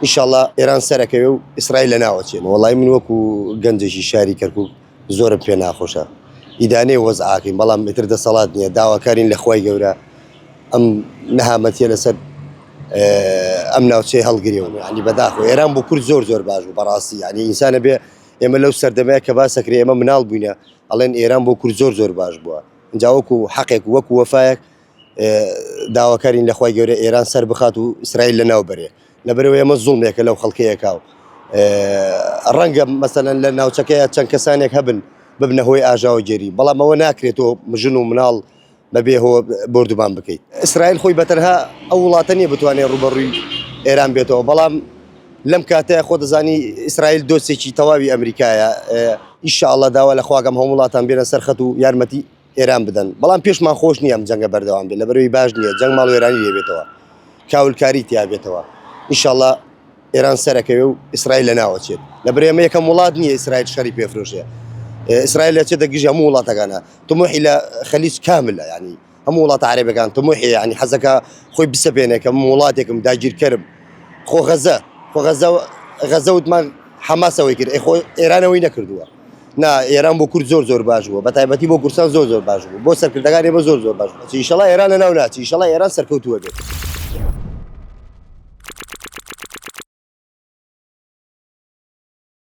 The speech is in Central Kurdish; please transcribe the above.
ان شاء اللە ئێران سەرەکەوێ و ئیسرائیل لەناوەچێ. وەڵایی من وەکو گەنجێکی شاری کەرکوک زۆرم پێ ناخۆشە ئیدانەی وەزعاکەین بەڵام ئیتر دەسەڵات نیە داواکارین لە خوای گەورە ئەم نەهامەتیە لەسەر ئەم ناوچەی هەڵگرێ و یعنی بەداخۆ ئێران بۆ کورد زۆر زۆر باش بوو بەڕاستی یعنی ئینسانە بێ ئێمە لەو سەردەمەیە کە باسەکرێ ئێمە مناڵ بووینە ئەڵێن ئێران بۆ کورد زۆر زۆر باش بووە جاوەکو حەقێک وەکو وەفایەک داواکارین لە خوای گەورە ئێران سەر بخات و ئیسرائیل لە ناو بەرێ لەبەرەوە ئێمە زوڵمێکە لەو خەڵکەیەکە و ڕەنگە مەسەەن لە ناوچەکەیە چەند کەسانێک هەبن ببنە هۆی ئاژاوە گێری بەڵام ئەوە ناکرێتەوە مژن و مناڵ بەبێ هۆ بردومان بکەیت ئیسرائیل خۆی بەتەنها ئەو وڵاتە نیە بتوانێت ڕوبەڕووی ئێران بێتەوە بەڵام لەم کاتەیە خۆ دەزانی ئیسرائیل دۆستێکی تەواوی ئەمریکایە ئیشاءڵە داوا لە خواگەم هەم وڵاتان بێنە سەرخەت و یارمەتی ئێران بدەن، بەڵام پێشمان خۆش نییە ئەم جەنگە بەردەوام بێت، لەبەرئەوەی باش نییە، جەنگ ماڵوێرانی لێ بێتەوە، کاولکاری تیا بێتەوە، ئیشاڵڵا ئێران سەرەکەوێ و ئیسرائیل لە ناو ئەچێت، لەبەرئ ئەمە یەکەم وڵات نییە ئیسرائیل شەڕی پێ فرۆشێ، ئیسرائیل ئەچێتە گژی هەموو وڵاتەکانا، تموحی لە خەلیج کاملە یانی هەموو وڵاتە عەرەبەکان تموحی یانی حەزەکا خۆی بسەپێنێ کە من وڵاتێکم داگیرکەرم، خۆ غەزە خۆ غەزە غەزە وتمان حەماس ئەوەی کرد، ئەی خۆ ئێران ئەوەی نەکردووە. نا ئێران بۆ کورد زۆر زۆر باش بووە بەتایبەتی بۆ کورسان زۆر زۆر باش بوو بۆ سەرکردەکان ئێمە زۆر زۆر باش ئیشەڵا ئێران لە ناو ناچی ئیشەڵا ئێران سەرکەوتووە بێت.